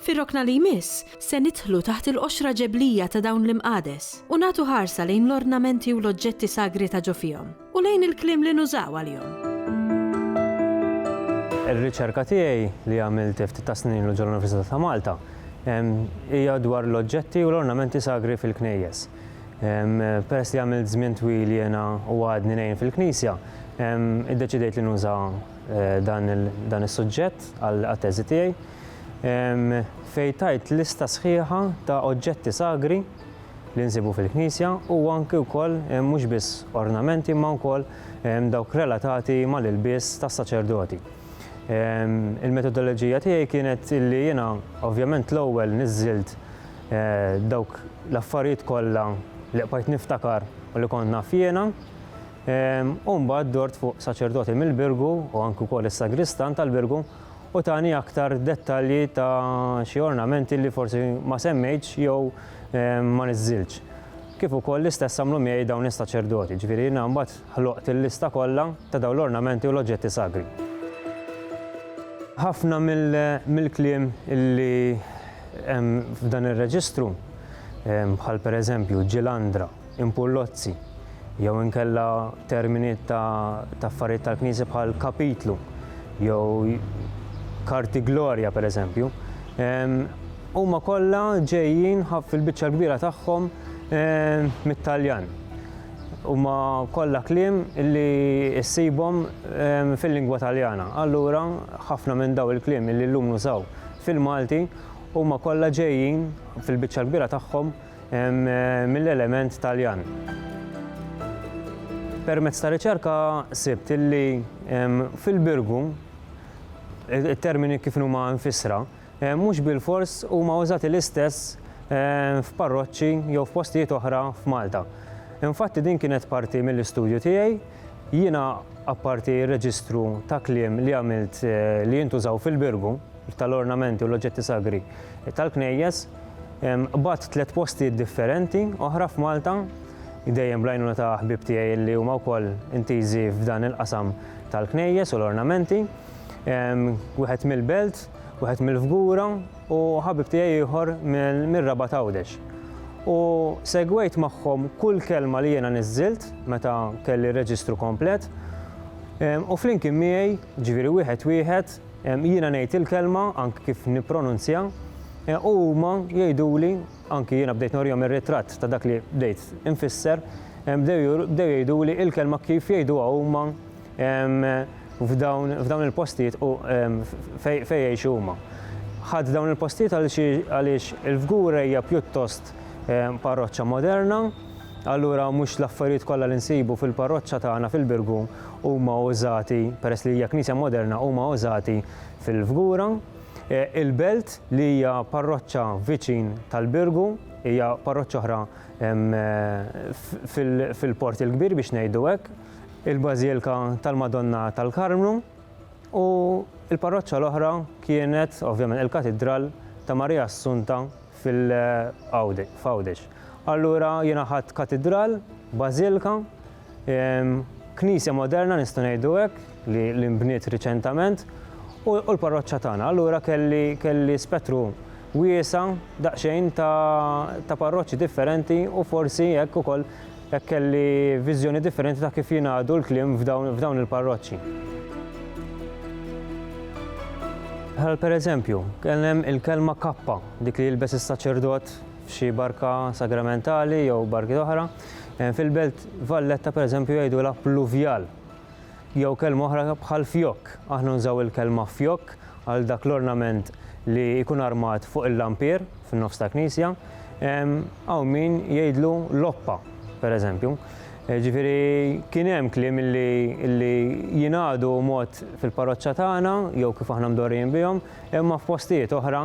Fir-rokna li jmiss, se nidħlu taħt il-qoxra ġeblija ta' dawn l-imqades u nagħtu ħarsa lejn l-ornamenti u l-oġġetti sagri ta' ġo fihom, u lejn il-kliem li nużaw għalihom. Ir-riċerka tiegħi, li għamilt ftit tas-snin ilu ġol-Università ta' Malta, hija dwar l-oġġetti u l-ornamenti sagri fil-knejjes. Peress li għamilt żmien twil jiena u għadni ngħin fil-knisja, iddeċidejt li nuża dan is-suġġett għat-teżi tiegħi. fejn tajt lista sħiħa ta' oġġetti sagri li nsibu fil-knisja u anki wkoll mhux biss ornamenti imma wkoll dawk relatati mal-ilbies tas-saċerdoti. Il-metodoloġija tiegħi kienet li jiena ovvjament l-ewwel niżżilt eh, dawk l-affarijiet kollha li qbajt niftakar u li kont naf jiena. U mbagħad dort fuq saċerdoti mill-Birgu u anki wkoll is-sagristan tal-Birgu u tani aktar dettalji ta' xi ornamenti li forsi ma semmejtx jew ma niżżiltx. Kif ukoll l-istess għamlu miegħi dawn is-saċerdoti, ġifieri jiena mbagħad ħloqt il-lista kollha ta' dawn l-ornamenti u l-oġġetti sagri. Ħafna mill-kliem li hemm f'dan ir-reġistru, bħal pereżempju ġilandra, impullozzi jew inkella termini ta' affarijiet tal-Knisja bħal kapitlu jew karti glorja pereżempju, huma kollha ġejjin fil-biċċa l-kbira tagħhom mit-Taljan. Huma kollha kliem li ssibhom fil-lingwa Taljana. Allura ħafna minn daw il-kliem li llum nużaw fil-Malti huma kollha ġejjin fil-biċċa l-kbira tagħhom mill-element Taljan. Permezz ta' riċerka sibt illi fil-Birgu it-termini kif huma mfissra mhux bilfors huma użati l-istess f'parroċċi jew f'postijiet oħra f'Malta. Infatti din kienet parti mill-istudju tiegħi, jiena apparti r-reġistru ta' kliem li għamilt li jintużaw fil-Birgu, tal-ornamenti u l-oġġetti sagri tal-knejjes, qbadt tliet postijiet differenti oħra f'Malta, dejjem bl-għajnuna ta' ħbieb tiegħi li huma wkoll intiżi f'dan il-qasam tal-knejjes u l-ornamenti, wieħed mill-Belt, wieħed mill-Fgura u ħabib tiegħi ieħor mir-Rabat Għawdex. U segwejt magħhom kull kelma li jiena niżżilt meta kelli r-reġistru komplet u flimkien miegħi, ġifieri wieħed wieħed, Jiena ngħid il-kelma anki kif nippronunzja u huma jgħiduli, anki jiena bdejt norihom ir-ritratt ta' dak li bdejt infisser, bdew jgħiduli il-kelma kif jgħiduha huma f'dawn il-postijiet u fejn jgħixu huma. Ħadt dawn il-postijiet għaliex il-Fgura hija pjuttost parroċċa moderna, Allura mhux l-affarijiet kollha li nsibu fil-parroċċa tagħna fil-Birgu huma użati, peress li hija knisja moderna, huma użati fil-Fgura. Il-Belt li hija parroċċa viċin tal-Birgu, hija parroċċa oħra fil-Port il-Kbir biex ngħidu hekk, il-Bażilka tal-Madonna tal-Karmnu u l-parroċċa l-oħra kienet ovvjament il-Katidral ta' Marija Assunta f'Għawdex. Allura jiena ħadt katidral, bażilka, knisja moderna nistgħu ngħidu hekk li nbniet riċentament u l-parroċċa tagħna. Allura kelli kelli spettru wiesa' daqsxejn ta' parroċċi differenti u forsi hekk ukoll Hekk kelli viżjoni differenti ta' kif jingħadu l-kliem f'dawn il-parroċċi. Bħal pereżempju, kien hemm il-kelma kappa, dik li jilbes is-saċerdot f'xi barka sagramentali jew barkiet oħra. Fil-belt Valletta pereżempju jgħidulha pluvjal. Jew kelma oħra bħal fjokk. Aħna nużaw il-kelma fjokk għal dak l-ornament li jkun armat fuq il-lampier fin-nofs ta' knisja. Hawn min jgħidlu loppa, pereżempju. Ġifieri kien hemm kliem li jingħadu mod fil-parroċċa tagħna jew kif aħna mdorrijin bihom, imma f'postijiet oħra